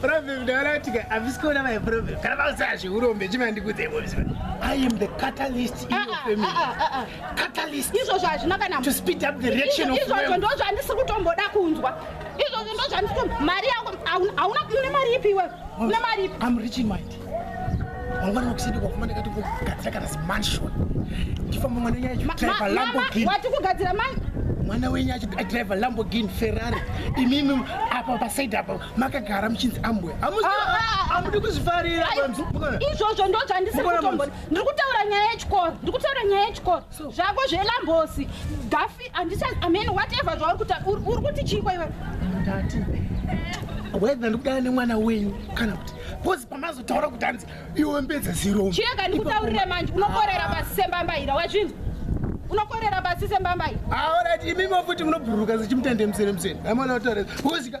Problem ndakaratika havisi kuona my problem. Kana vakuziva zveurombe chima ndikudze boys. I am the catalyst in your ah, family. Ah, ah, catalyst. Izvozvo hazvina kana to speed up the reaction of Izvozvo ndozvo andisi kutomboda kunzwa. Izvozvo ndozvo andisi mari yako hauna une mari ipi iwe? Une mari ipi? I'm rich in mind. mangwana wakusidi kwakumana kati kugadzira kana zimansion ndifamba mwana wenyu achidriva lamborghini wati kugadzira man mwana wenyu achidriva lamborghini ferrari imimi apa pasaidi apa makagara muchinzi ambwe amudi ah, ah, ah. kuzvifarira izvozvo ndo zvandisiri kutombona ndiri kutaura nyaya yechikoro ndiri kutaura nyaya yechikoro zvako zvelambosi gafi andisa amen whatever zvauri kuti uri kuti chii kwaiwe ndati whether ndikudana nemwana wenyu kana kuti bcoz pamazotaura kuti hanzi iwe mbedza ziro chirega ndikutaurire manje unokorera pasi sembambaira wazvinzi unokorera pasi sembambaira aorati imimo futi munobhururuka zichimutende musere musere amwana otoreza bcozika